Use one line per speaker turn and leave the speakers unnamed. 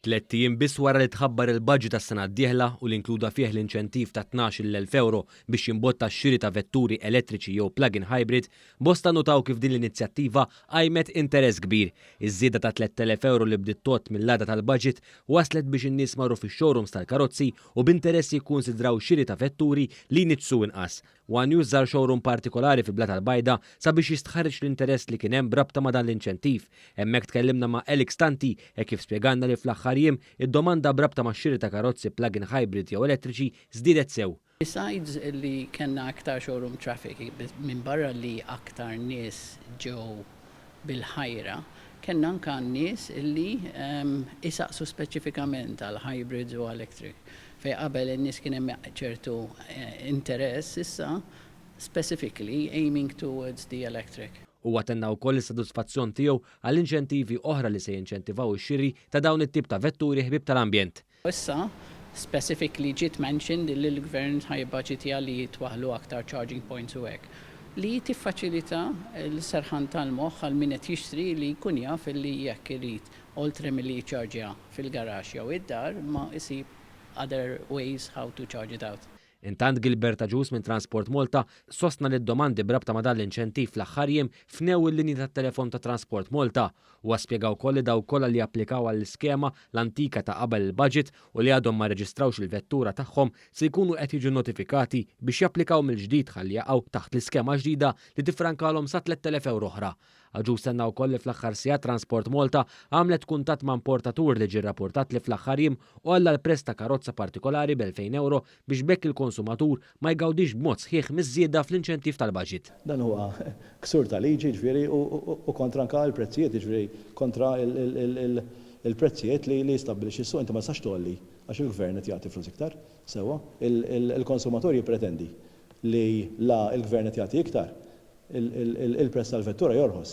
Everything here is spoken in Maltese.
Tlett ijiem biss wara li tħabbar il-baġit għas-sena d-dieħla u li inkluda fih l-inċentiv ta' tnax-il elf ewro biex jimbotta x-xiri ta' vetturi elettriċi jew plug-in hybrid, bosta nnutaw kif din l-inizjattiva qajmet interess kbir. Iż-żieda ta' tlett elef ewro li bdiet tgħodd mill-għada tal-baġit wasslet biex in-nies marru fix-showrooms tal-karozzi u b'interess jikkunsidraw xiri ta' vetturi li jniġġsu inqas. One News żar showroom partikolari fi Blata l-Bajda sabiex jistħarreġ l-interess li kien hemm b'rabta ma' dan l-inċentiv. Hemmhekk tkellimna ma' Alex Tanti hekk kif spjegalna li fl-aħħar jiem id-domanda b'rabta max-xiri ta' karozzi plug-in hybrid jew elettriċi żdiedet sew. Besides li
kellna aktar showroom traffic, minbarra li aktar nies ġew bil-ħajra, kellna anke għan-nies li jsaqsu speċifikament għal hybrids u electric. Fejn qabel in-nies kien hemm ċertu interess, issa specifically aiming towards the electric. Huwa tenna wkoll
is-sodisfazzjon tiegħu għall-inċentivi oħra li se jinċentivaw ix-xiri ta' dawn it-tip ta' vetturi ħbieb tal-ambjent. U issa,
specifically ġiet mentioned li l-Gvern ħa jibbaġitja li jitwaħħlu aktar charging points u hekk. Li tiffaċilita l-serħan tal-moħħ għal min qed jixtri li jkun jaf li jekk irid, oltre milli jiċċarġja fil-garaxx jew id-dar, imma isib other ways how to charge it out. Intant Gilbert
Agius minn Transport Malta sostna li d-domandi b'rabta ma' dan l-inċentiv fl-aħħar jiem fnew il-linji tat-telefon ta' Transport Malta. Huwa spjega wkoll li dawk kollha li applikaw għall-iskema, l-antika ta' qabel il-budget, u li għadhom ma rreġistrawx il-vettura tagħhom se jkunu qed jiġu notifikati biex japplikaw mill-ġdid ħalli jaqgħu taħt l-iskema ġdida li tiffrankalhom sa 3,000 ewro oħra. Agius tenna wkoll li fl-aħħar sigħat Transport Malta għamlet kuntatt ma' importatur li ġie rrapportat li fl-aħħar jiem għolla l-prezz ta' karozza partikolari b'elfejn ewro biex b'hekk il-konsumatur ma jgawdix b'mod sħiħ miż-żieda fl-inċentiv tal-baġit. Dan huwa
ksur ta' liġi jiġifieri u kontra anke l-prezzijiet jiġifieri kontra l-prezzijiet li jistabbilixxi s-suq. Inti ma tistax tgħolli għax il-Gvern qed jagħti flus iktar. Sewwa, il-konsumatur jippretendi li la l-Gvern qed jagħti iktar Il-prezz tal-vettura jorħos.